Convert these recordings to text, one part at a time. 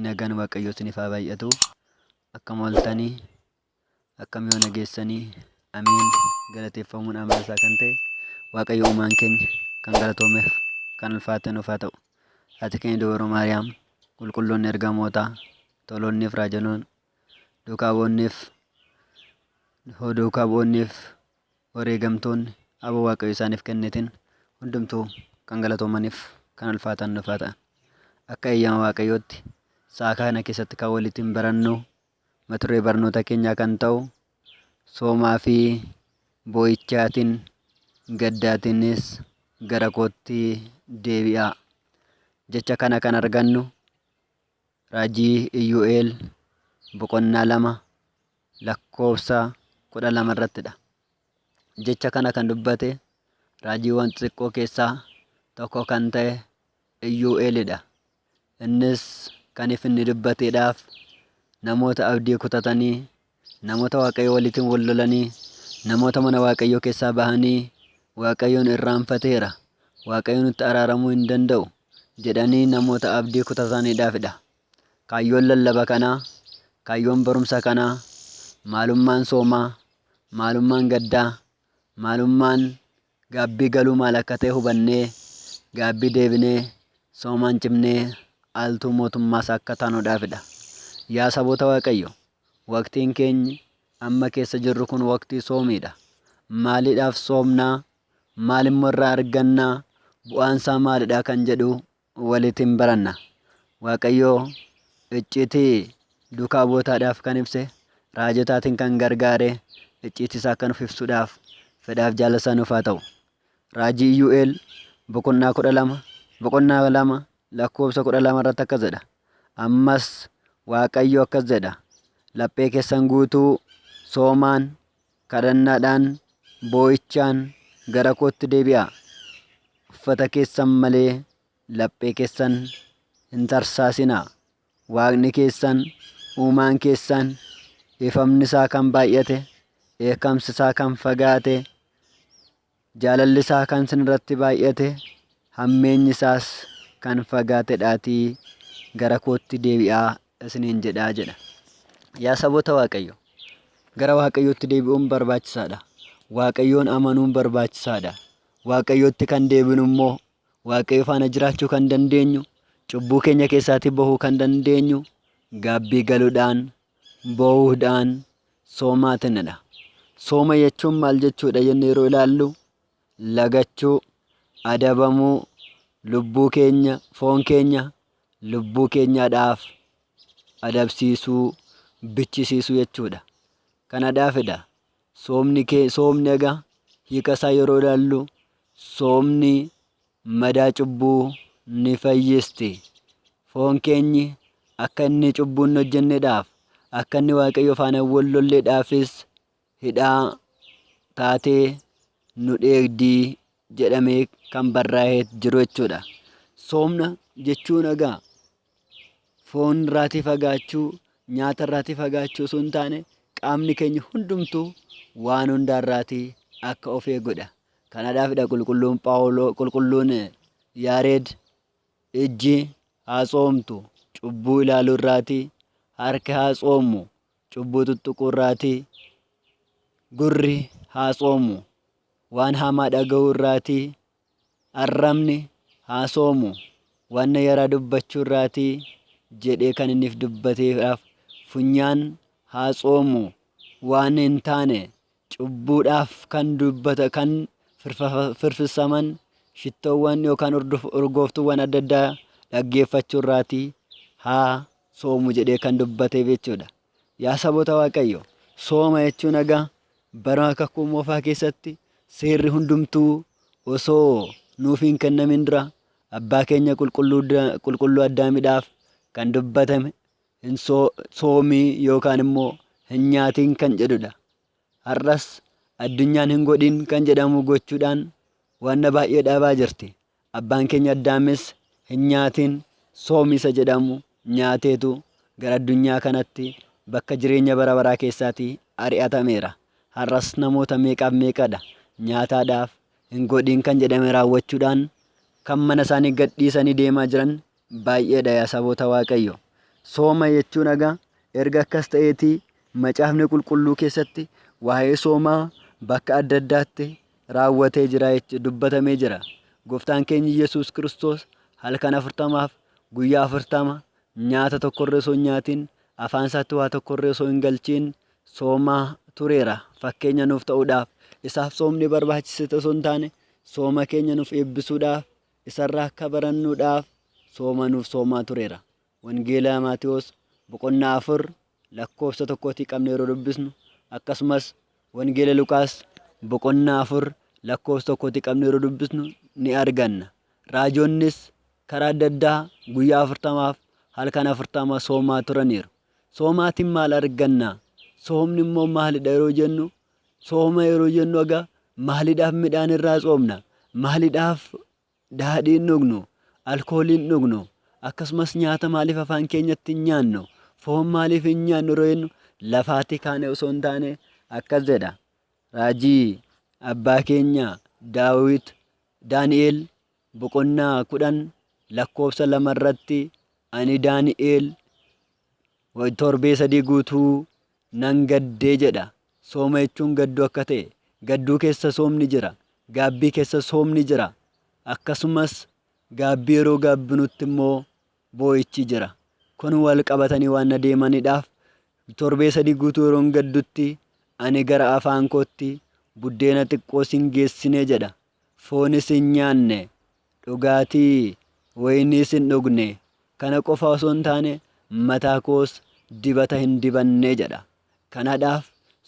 nagaan waaqayyoo isiniif haa baay'atu akkam ooltanii Akkam yoo nageessanii ameen galateeffamuun amala isaa kan ta'e waaqayyo uumaan keenya kan galatoomeef kan ulfaate nuuf haa ta'u. Ati keenya dubaroo Maariyaam qulqulloonni ergamootaa toloonniif raajanoon duukaa boonniif hoo duukaa boonniif wareegamtoonni abo waaqayyo isaaniif kennitin hundumtuu kan galatoomaniif kan ulfaatan nuuf haa ta'an. Akka eeyyama waaqayyootti sa'a kana keessatti kan walitti hin barannu Mata duree barnoota keenyaa kan ta'u soomaa fi boo'ichaatiin gaddaatiinis gara kootti deebi'aa. Jecha kana kan argannu raajii Iyyu'eel boqonnaa lama lakkoofsa kudha lama irrattidha. Jecha kana kan dubbate raajiiwwan xixiqqoo keessaa tokko kan ta'e Iyyu'eelidha. Innis kan if inni dubbateedhaaf namoota abdii kutatanii, namoota Waaqayyo waliitiin wal lolanii, namoota mana Waaqayyoo keessaa bahanii Waaqayyoon irraanfateera, Waaqayyo nutti araaramuu hin danda'u jedhanii namoota abdii kutataniidhaafidha. Kaayyoon lallaba kanaa, kaayyoon barumsa kanaa, maalummaan soomaa, maalummaan gaddaa, maalummaan Gaabbii galuu maal akka ta'e hubannee gaabbii deebinee soomaan cimnee aaltuu mootummaas akka taanuudhaafidha. Yaa saboota Waaqayyo, waqtiin keenyi amma keessa jirru kun waqtii soomiidha. Maaliidhaaf soomnaa? Maalimmoo irraa argannaa? Bu'aansaa maalidha kan jedhu walit in baranna. Waaqayyoo icciitii duukaa bu'otaadhaaf kan ibse, raajotaatiin kan gargaare, icciitii isaa akka nuuf ibsuudhaaf fedhaaf jaalala isaa nuuf haa ta'u. Raajii Iyyu'eel boqonnaa kudha lama boqonnaa lama lakkoofsa kudha lama irratti akkas jedha. Ammas Waaqayyo akkas jedha. Laphee keessan guutuu soomaan Kadhannaadhaan, boo'ichaan gara kootti deebi'aa. Uffata keessan malee laphee keessan hin tarsaasinaa. Waaqni keessan, uumaan keessan, dhiifamni isaa kan baay'ate, dheekkamsi isaa kan fagaate, Jaalalli isaa kan isin irratti baay'ate, hammeenyi isaas kan fagaatedhaatii gara kootti deebi'aa isiniin jedha jedha. Yaa saboota Waaqayyo, gara Waaqayyootti deebi'uun barbaachisaadha. Waaqayyoon amanuun barbaachisaadha. Waaqayyootti kan deebinu immoo Waaqayyo faana jiraachuu kan dandeenyu, cubbuu keenya keessaatii bahuu kan dandeenyu, gaabbii galuudhaan, boohuudhaan soomaa tennadha. Sooma jechuun maal jechuudha jenne yeroo ilaallu lagachuu, adabamuu, lubbuu keenya, foon keenya lubbuu keenyaadhaaf adabsiisuu, bichisiisuu jechuudha. Kanadhaafidha soomni kee soomni egaa hiika isaa yeroo ilaallu soomni madaa cubbuu ni fayyisti. Foon keenyi akka inni cubbuu hin hojjennedhaaf, akka inni Waaqayyo faana hin wal lolledhaafis hidhaa taatee nu dheegdii jedhamee kan barraa'ee jiru jechuudha. Soomna jechuun egaa foon irraatii fagaachuu, nyaata irraatii fagaachuu osoo hin taane qaamni keenya hundumtuu waan hundaa irraatii akka of eegudha. Kanaadhaafidha qulqulluun Phaawuloo qulqulluun Yaareed ijji haa tsoomtu cubbuu ilaaluu irraatii, harki haa tsoomu cubbuu tuttuquu irraatii, gurri haa tsoomu waan hamaa dhaga'uu irraatii Arrabni, haa soomu, wanna yaraa dubbachuu irraatii jedhee kan inni if dubbateedhaaf, funyaan, haa tsoomu, waan hin taane cubbuudhaaf kan dubbata kan firfafa- firfirsaman shittoowwan yookaan urduf- urgooftuuwwan adda addaa dhaggeeffachuu irraatii haa soomu jedhee kan dubbateef jechuudha. Yaa saboota Waaqayyo, sooma jechuun egaa bara kakuu moofaa keessatti seerri hundumtuu osoo nuuf hin kennamin dura abbaa keenya qulqulluu addaamidhaaf kan dubbatame hin soomii yookaan immoo hin nyaatiin kan jedhudha. Har'as addunyaan hin godhin kan jedhamu gochuudhaan wanna baay'ee dhaabaa jirti. Abbaan keenya Addaamis hin nyaatin soomi isa jedhamu nyaateetu gara addunyaa kanatti bakka jireenya bara baraa keessaati ari'atameera. Har'as namoota meeqaaf meeqadha nyaataadhaaf hin godhin kan jedhame raawwachuudhaan kan mana isaanii gadhiisanii deemaa jiran baay'eedha yaa saboota waaqayyo. Sooma jechuun egaa erga akkas ta'eetii macaafni qulqulluu keessatti waa'ee soomaa bakka adda addaatti raawwatee jira jechuun dubbatamee jira. Gooftaan keenya Yesuus Kiristoos halkan afurtamaaf guyyaa afurtama nyaata tokkorree osoo hin nyaatiin afaan isaatti waa tokkorree osoo hin galchiin soomaa tureera fakkeenya nuuf ta'uudhaaf. Isaaf soomni barbaachise osoo hin taane sooma keenya nuuf eebbisuudhaaf Isarraa akka barannuudhaaf sooma nuuf soomaa tureera. Wangeela Maatewos boqonnaa 4 lakkoofsa tokkootii qabne yeroo dubbisnu akkasumas Wangeela Luqaas boqonnaa 4 lakkoofsa tokkootii qabne yeroo dubbisnu ni arganna. Raajoonnis karaa adda addaa guyyaa afurtamaaf halkan afurtama soomaa turaniiru. Soomaatiin maal arganna? Soomni immoo maalidha yeroo jennu Sooma yeroo jennu aga maalidhaaf midhaan irraa tsoomna? Maalidhaaf daadhii hin dhugnu? Alkoolii hin dhugnu? Akkasumas nyaata maaliif afaan keenyatti hin nyaannu? Foon maaliif hin nyaannu yeroo jennu lafaatti kaane osoo hin taane akkas jedha. Raajii abbaa keenya Daawit Daani'eel boqonnaa kudhan lakkoofsa lama irratti ani Daani'eel Torbee sadii guutuu nan gaddee jedha. Sooma jechuun gadduu akka ta'e, gadduu keessa soomni jira, gaabbii keessa soomni jira, akkasumas gaabbii yeroo gaabbinutti immoo boo'ichi jira. Kun wal qabatanii waan na deemaniidhaaf torbee sadii guutuu yeroon gaddutti ani gara afaan kootti buddeena xiqqoo sin geessine jedha. foonis hin nyaanne, dhugaatii wayiniis hin dhugne, kana qofa osoo hin taane mataa koos dibata hin dibanne jedha. Kanadhaaf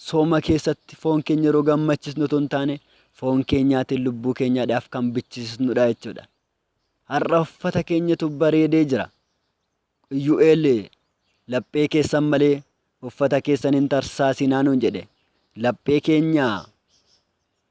sooma keessatti foon keenya yeroo gammachisnu otoo hin taane foon keenyaatiin lubbuu keenyaadhaaf kan bichisisnudha jechuudha. Har'a uffata keenyatu bareedee jira. Iyyu'eel laphee keessan malee uffata keessan hin tarsaasinaa nuun jedhe. Laphee keenya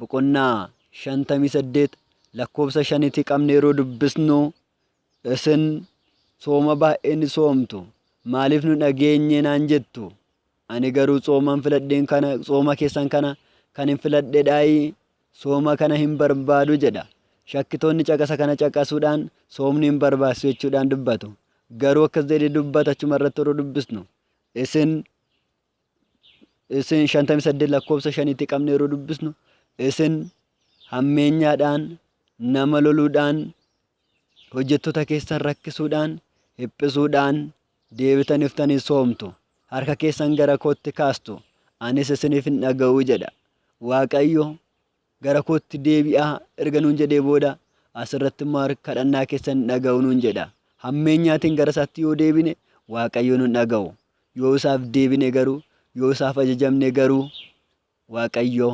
boqonnaa 58 lakkoofsa 5 iti qabne yeroo dubbisnu isin sooma baay'ee ni soomtu maaliif nu dhageenye naan jettu ani garuu tsooman filadheen kana tsooma keessan kana kan hin filadhedhaayi sooma kana hin barbaadu jedha shakkitoonni caqasa kana caqasuudhaan soomni hin barbaachisu jechuudhaan dubbatu garuu akkas jedhee dubbata achuma irratti yeroo dubbisnu isin isin 58 lakkoofsa 5tti qabne yeroo dubbisnu isin hammeenyaadhaan nama loluudhaan hojjettoota keessan rakkisuudhaan hiphisuudhaan deebitaniftanii soomtu harka keessan gara kootti kaastu anis isiniif hin dhaga'u jedha waaqayyo Gara kootti deebi'aa erga nuun jedhee booda as irratti immoo harka kadhannaa keessan hin dhaga'u nuun jedha. Hammeenyaatiin gara isaatti yoo deebine Waaqayyo nun dhaga'u. Yoo isaaf deebine garuu, yoo isaaf ajajamne garuu Waaqayyo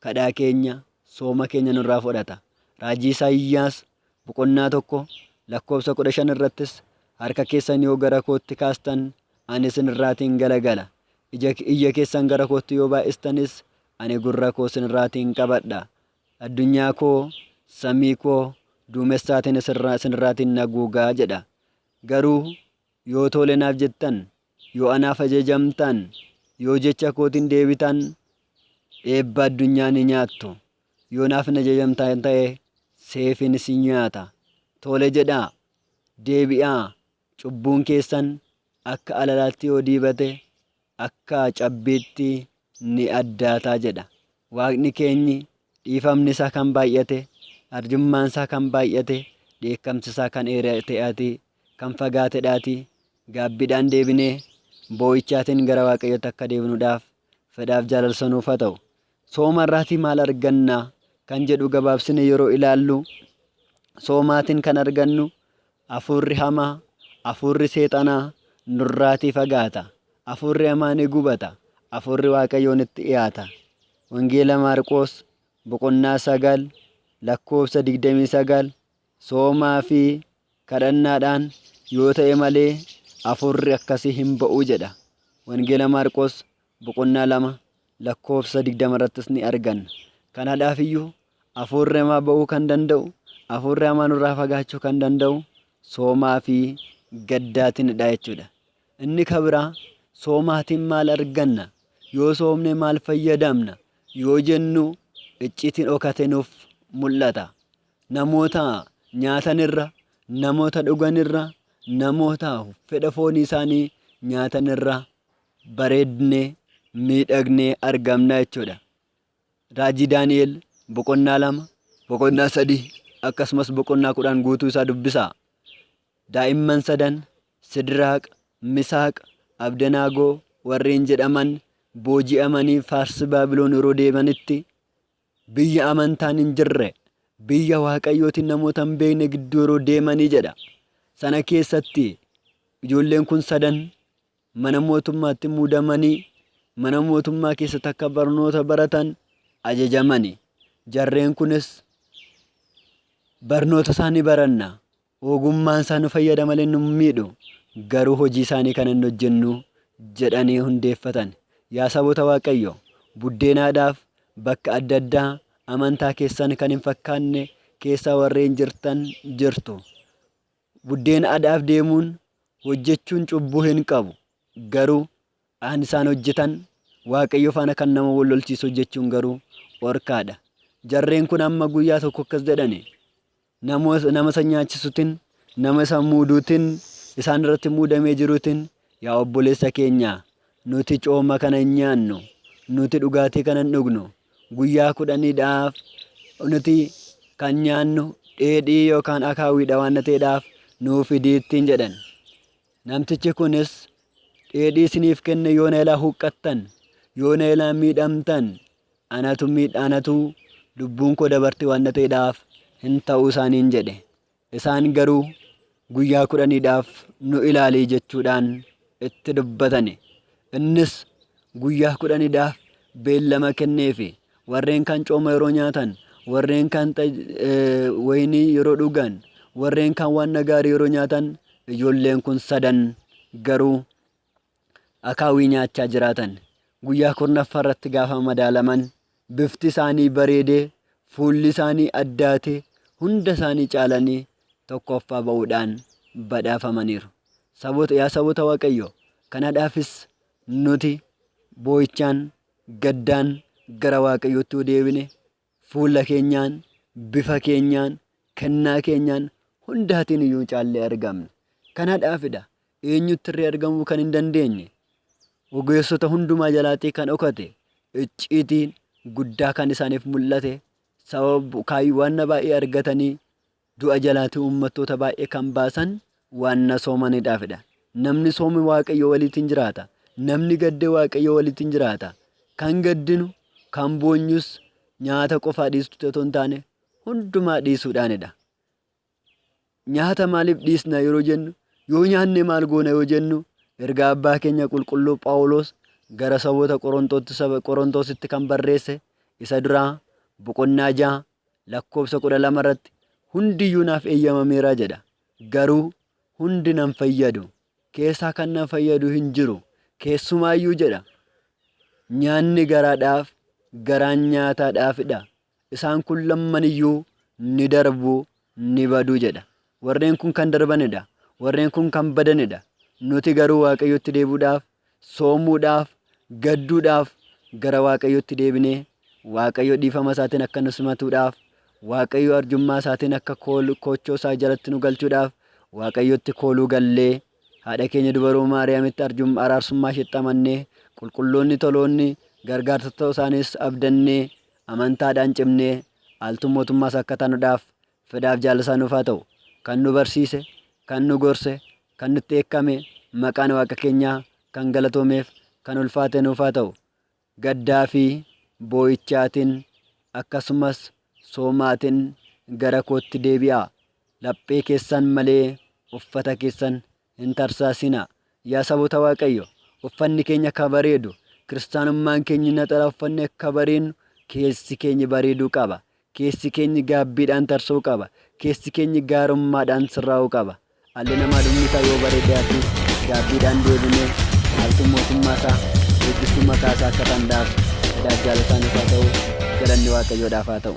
kadhaa keenya, sooma keenya nurraa fudhata. Raajii Isaayyaas boqonnaa tokko lakkoofsa kudha shan irrattis harka keessan yoo gara kootti kaastan ani isin irraatiin galagala. Ija, iyya keessan gara kootti yoo baay'istanis Ani gurra koo isin irraatiin qabadha, addunyaa koo, samii koo, duumessaatiin isin irraatiin naguuga jedha. Garuu yoo toole naaf jettan, yoo anaaf ajajamtaan, yoo jecha kootiin deebitaan, eebba addunyaa ni nyaattu. Yoo naaf hin ajajamtaan ta'e, seefiin isin nyaata. Toole jedhaa, deebi'aa, cubbuun keessan akka alalaatti yoo diibate, akka cabbiitti ni addaata jedha. Waaqni keenyi dhiifamni isaa kan baay'ate, arjummaan isaa kan baay'ate, dheekkamsi isaa kan dheerate'aati, kan fagaatedhaati. Gaabbiidhaan deebinee boo'ichaatiin gara Waaqayyootti akka deebinuudhaaf fedhaaf jaalalsa nuuf haa ta'u. Sooma irraatii maal arganna kan jedhu gabaabsine yeroo ilaallu soomaatiin kan argannu afuurri hamaa, afuurri seexanaa nurraatii fagaata. Afuurri hamaa ni gubata. Afuurri Waaqayyoo nutti dhiyaata. Wangeela Maarqoos boqonnaa sagal lakkoofsa digdamii sagal soomaa fi kadhannaadhaan yoo ta'e malee afuurri akkasii hin ba'u jedha. Wangeela Maarqoos boqonnaa 2 lakkoofsa 20 irrattis ni arganna. Kanaadhaaf iyyuu afuurri hamaa ba'uu kan danda'u, afuurri hamaa nurraa fagaachuu kan danda'u soomaa fi gaddaatinidha jechuudha. Inni ka biraa soomaatiin maal arganna? Yoo soomne maal fayyadamna? Yoo jennu icciitiin dhokate nuuf mul'ata. Namoota nyaatanirra, namoota dhuganirra, namoota fedha foonii isaanii nyaatanirra bareedne, miidhagnee argamna jechuudha. Raajii Daani'el boqonnaa lama, boqonnaa sadii akkasumas boqonnaa kudhan guutuu isaa dubbisaa. Daa'imman sadan Sidiraaq, Misaaq, Abdenaagoo warreen jedhaman booji'amanii Faarsi Baabiloon yeroo deemanitti biyya amantaan hin jirre, biyya Waaqayyootiin namoota hin beekne gidduu yeroo deemanii jedha. Sana keessatti ijoolleen kun sadan mana mootummaatti muudamanii mana mootummaa keessatti akka barnoota baratan ajajamani. Jarreen kunis barnoota isaa ni baranna. Ogummaan isaa nu fayyada malee nu miidhu. Garuu hojii isaanii kana hin hojjennu jedhanii hundeeffatan. Yaa saboota Waaqayyo buddeenaadhaaf bakka adda addaa amantaa keessan kan hin fakkaanne keessa warreen jirtan jirtu. Buddeena adaaf deemuun hojjechuun cubbuu hin qabu. Garuu aan isaan hojjetan Waaqayyo faana kan nama wal lolchiisu hojjechuun garuu dhorkaadha. Jarreen kun amma guyyaa tokko akkas jedhani nama isa nyaachisuutiin nama isa muuduutiin isaan irratti muudamee jiruutiin Yaa obboleessa keenya, nuti cooma kana hin nyaannu, nuti dhugaatii kana hin dhugnu, guyyaa kudhaniidhaaf nuti kan nyaannu dheedhii yookaan akaawiidha waan ta'eedhaaf nuu fidii ittiin jedhan. Namtichi kunis dheedhii isiniif kenne yoo na ilaa huqqattan, yoo na ilaa miidhamtan, anatu miidha anatu lubbuun koo dabarti waan ta'eedhaaf hin ta'u isaaniin jedhe. Isaan garuu, Guyyaa kudhaniidhaaf nu ilaali jechuudhaan itti dubbatani. Innis guyyaa kudhaniidhaaf beellama kenneefi. Warreen kan cooma yeroo nyaatan, warreen kan wayinii yeroo dhugan, warreen kan waan gaarii yeroo nyaatan ijoolleen kun sadan garuu akaawwii nyaachaa jiraatan. Guyyaa kurnaffaa irratti gaafa madaalaman bifti isaanii bareedee, fuulli isaanii addaatee, hunda isaanii caalanii tokkoffaa ba'uudhaan badhaafamaniiru. Saboota, yaa saboota Waaqayyoo, kanadhaafis nuti boo'ichaan, gaddaan gara Waaqayyootti yoo deebine Fuula keenyaan, bifa keenyaan, kennaa keenyaan hundaatiin iyyuu caallee argamna. Kanadhaaf dha eenyutti irree argamuu kan hin dandeenye? Ogeessota hundumaa jalaatii kan dhokate icciitiin guddaa kan isaaniif mul'ate sababa waan baay'ee argatanii Du'a jalaati uummattoota baay'ee kan baasan waanna soomanidhaafidha. Namni soome Waaqayyo waliitiin jiraata. Namni gadde Waaqayyo waliitiin jiraata. Kan gaddinu, kan boonyus nyaata qofaa dhiistutti otoo hin taane hundumaa dhiisuudhaanidha. Nyaata maaliif dhiisna yeroo jennu yoo nyaanne maal goona yoo jennu ergaa abbaa keenya qulqulluu Phaawulos gara saboota Qorontootti saba Qorontositti kan barreesse isa duraa boqonnaa ja'a lakkoofsa 12 irratti hundiyyuu naaf eeyyamameera jedha. Garuu hundi nan fayyadu. Keessaa kan nan fayyadu hin jiru. Keessumaayyuu jedha. Nyaanni garaadhaaf, garaan nyaataadhaafidha. Isaan kun lammaniyyuu ni darbu, ni badu jedha. Warreen kun kan darbanidha. Warreen kun kan badanidha. Nuti garuu Waaqayyotti deebi'uudhaaf, soomuudhaaf, gadduudhaaf, gara Waaqayyotti deebinee Waaqayyo dhiifama isaatiin akka nu simatuudhaaf, Waaqayyo arjummaa isaatiin akka kool- koochoo isaa jalatti nu galchuudhaaf Waaqayyotti kooluu gallee haadha keenya dubaroo Maariyaamitti arjum- araarsummaa isheetti amannee qulqulloonni toloonni gargaartota isaaniis abdannee amantaadhaan cimnee aaltuu mootummaas akka taanuudhaaf Fedhaaf jaalli isaa nuuf haa ta'u. Kan nu barsiise, kan nu gorse, kan nutti dheekkame, maqaan Waaqa keenyaa kan galatoomeef, kan ulfaate nuuf haa ta'u. Gaddaa fi boo'ichaatiin, akkasumas soomaatiin gara kootti deebi'aa. Laphee keessan malee uffata keessan Hin tarsaasinaa. Yaa saboota Waaqayyo, uffanni keenya akka bareedu, kiristaanummaan keenyi naxalaa uffannee akka bareennu keessi keenyi bareeduu qaba. Keessi keenyi gaabbiidhaan tarsa'uu qaba. Keessi keenyi gaarummaadhaan sirraa'uu qaba. Dhalli namaa dhumni isaa yoo bareedee hafe gaabbiidhaan deebinee haaltuu mootummaa isaa eeggiftuu maqaa isaa akka danda'aaf edaa jaalataan isaa ta'uu galanni Waaqayyoodhaaf haa ta'u.